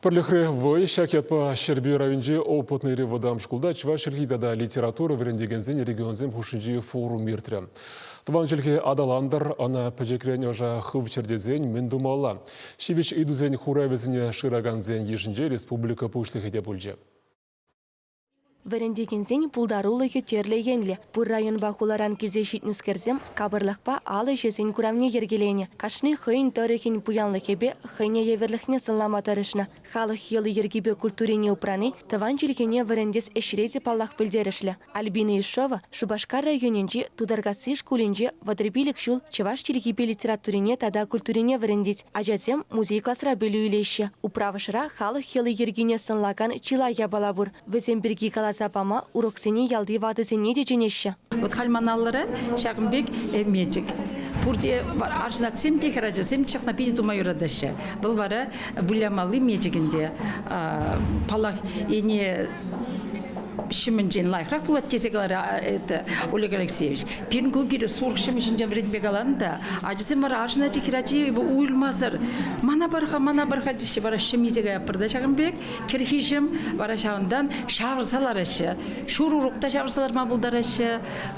Пӗрлӗхре вӑй ҫак ятпа Ҫӗрпӳ районӗнчи Опытные вӑтам шкулта чӑваш чӗлхи тата литература вӗрентекенсен регионсем хушшинчи форум иртрӗ. Тӑван чӗлхе аталантӑр, ӑна пӗчӗкрен ӑша хывчӑр тесен мӗн тумалла? Ҫивӗч ыйтусен хуравӗсене шыракансен йышӗнче республика Пуҫлӑхӗ те пулчӗ. Вӗрентекенсен пултарулӑхӗ тӗрлӗ енлӗ. Пур районпа хуларан килсе ҫитнӗскерсем капӑрлӑхпа ал ӗҫӗсен куравне йӗркеленӗ. Кашни хӑйӗн тӑрӑхӗн пуянлӑхӗпе хӑйне евӗрлӗхне сӑнлама тӑрӑшнӑ. Халӑх йӑли-йӗркипе культурине упрани тӑван чӗлхене вӗрентес ӗҫре те паллах пӗлтерӗшлӗ. Альбина Ишова Шупашкар районӗнчи Тутаркасси шкулӗнче вӑтӑр пилӗк ҫул чӑваш чӗлхипе литературине тата культурине вӗрентет. Ачасем музей класра пӗлӳ илеҫҫӗ. Управӑшра халӑх йӑли-йӗркине сӑнлакан чылай япала пур. Вӗсем пирки каласа пама уроксене ялти ватӑсене те чӗнеҫҫӗ. Вӑт халь ман аллӑра ҫакӑн пек мечӗк. Пурте арҫынатсем те хӗрачасем ҫакна питӗ тума юратаҫҫӗ. Вӑл вара вылямалли мечӗк ӗнтӗ. Паллах, ене ҫӑмӗнчен лайӑхрах пулать тесе каларӗ это Олег Алексеевич. Пирӗн кун пирӗн сурӑх ҫӑмӗҫӗнчен вӗрентме каланӑ та ачасем вара арҫын хӗрачи уйӑлмасӑр мана пар-ха, мана пар-ха теҫҫӗ вара ҫӑм илсе каятпӑр та ҫакӑн пек кӗрхи ҫӑм вара ҫавӑнтан ҫавӑрса лараҫҫӗ. Ҫур урок та ҫавӑрса ларма пултараҫҫӗ.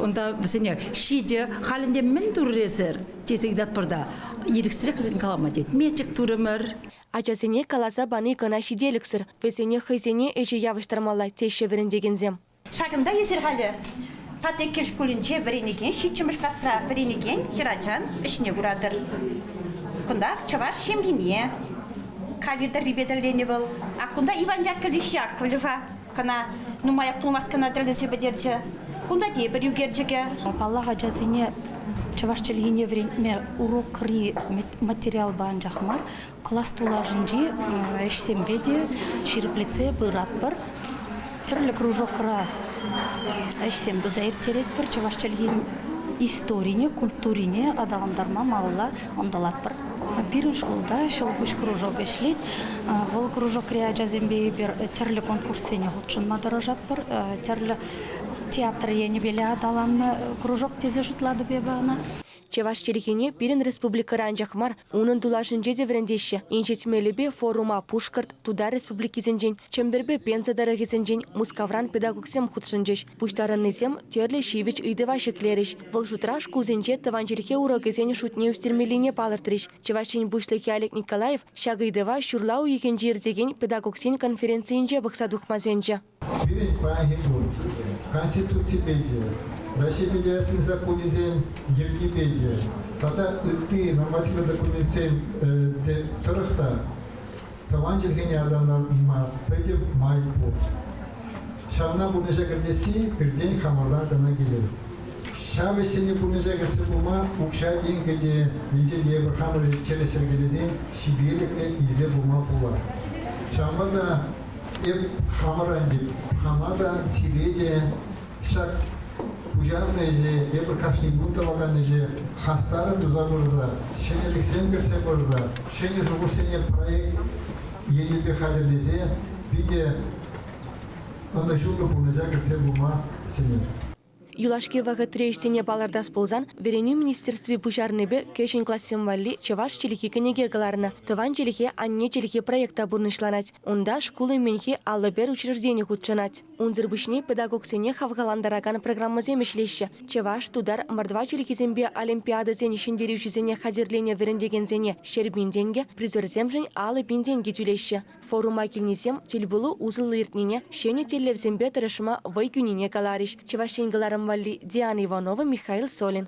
Унта вӗсене ҫитӗ, халь ӗнтӗ мӗн турӑр эсир? тесе ыйтатпӑр та ирӗксӗрех вӗсен калама тет. Мечӗк турӑмӑр. Ачасене каласа пани кӑна ҫителӗксӗр, вӗсене хӑйсене ӗҫе явӑҫтармалла, теҫҫӗ вӗрентекенсем. Ҫакӑнта эсир халӗ Патеккел шкулӗнче вӗренекен ҫиччӗмӗш класра вӗренекен хӗрачан ӗҫне куратӑр. Кунтах чӑваш ҫемйине кавир тӑррипе тӗрленӗ вӑл. Ак кунта Иван Яковлевич Яковлев-а кӑна нумаях пулмасть кӑна тӗрлесе пӗтерчӗ. Кунта тепӗр ӳкерчӗкӗ. Паллах, ачасене чӑваш чӗлхине вӗрентме урокри материалпа анчах мар, класс тулашӗнчи ӗҫсемпе те ҫирӗплетсе пыратпӑр. Тӗрлӗ кружокра ӗҫсем туса ирттеретпӗр чӑваш чӗлхин историне, культурине аталантарма малалла ӑнтӑлатпӑр. Пирӗн шкулта Ҫӑлкуҫ кружок ӗҫлет. Вӑл кружокри ачасемпе эпир тӗрлӗ конкурссене хутшӑнма тӑрӑшатпӑр. Тӗрлӗ театр енӗпеле аталаннӑ кружок тесе шутлатӑп эпӗ ӑна. Чӑваш чӗлхине пирӗн республикӑра анчах мар, унӑн тулашӗнче те вӗрентеҫҫӗ. Инҫет мелӗпе форума Пушкӑрт, Тутар республикисенчен, Чӗмпӗрпе Пенза тӑрӑхӗсенчен Мускавран педагогсем хутшӑнчӗҫ. Пуҫтарӑннисем тӗрлӗ ҫивӗч ыйтӑва ҫӗклерӗҫ. Вӑл шутра шкулсенче тӑван чӗлхе урокӗсен шутне ӳстермеллине палӑртрӗҫ. Чӑваш Ен Пуҫлӑхӗ Олег Николаев ҫак ыйтӑва ҫурла уйӑхӗнче иртекен педагогсен конференцийӗнче пӑхса тухма сӗнчӗ. Пирӗн паянхи кун Конституципе те, Раҫҫей Федерацийӗн законӗсен йӗркипе те тата ытти нормативлӑ документсен тӑрӑх та тӑван чӗлхене аталанма питӗ май пур. Ҫавна пурнӑҫа кӗртесси пиртен хамӑрла кӑна килет. Ҫав ӗҫсене пурнӑҫа кӗртсе пыма укҫа-тенкӗ те, енчен те эпир хамӑр тӗрӗс йӗркелесен ҫителӗклӗ илсе пыма пулать. Ҫавӑнпа та Эп хамӑра хама та, сире те ҫак пуҫарнӑ ӗҫе, эпир кашни кун тӑвакан ӗҫе хастаррӑн туса пырса, ҫӗнӗлӗхсем кӗртсе пырса, ҫӗнӗ шухӑшсене проект енӗпе хатӗрлесе питӗ ӑнӑҫуллӑ пурнӑҫа кӗртсе пыма сӗнет. Юлашки вӑхӑтри ӗҫсене палӑртас пулсан, вӗренӳ министерстви пуҫарнипе кӗҫӗн классем валли чӑваш чӗлхи кӗнеке кӑларнӑ. Тӑван чӗлхе, анне чӗлхи проекта пурнӑҫланать. Унта шкул умӗнхи аллӑ пер учреждени хутшӑнать. Унсӑр пуҫне педагогсене хавхалантаракан программӑсем ӗҫлеҫҫӗ. Чӑваш, тутар, мордва чӗлхисемпе олимпиадӑсен ҫӗнтерӳҫисене хатӗрленӗ вӗрентекенсене ҫӗр пин тенкӗ, призерсемшӗн алӑ пин тенкӗ тӳлеҫҫӗ. Форума килнисем тӗлпулу усӑллӑ иртнине, ҫӗнӗ тӗллевсемпе тӑрӑшма вӑй кӳнине каларӗҫ Чӑваш Ен кӑларӑм валли Диана Иванова, Михаил Солин.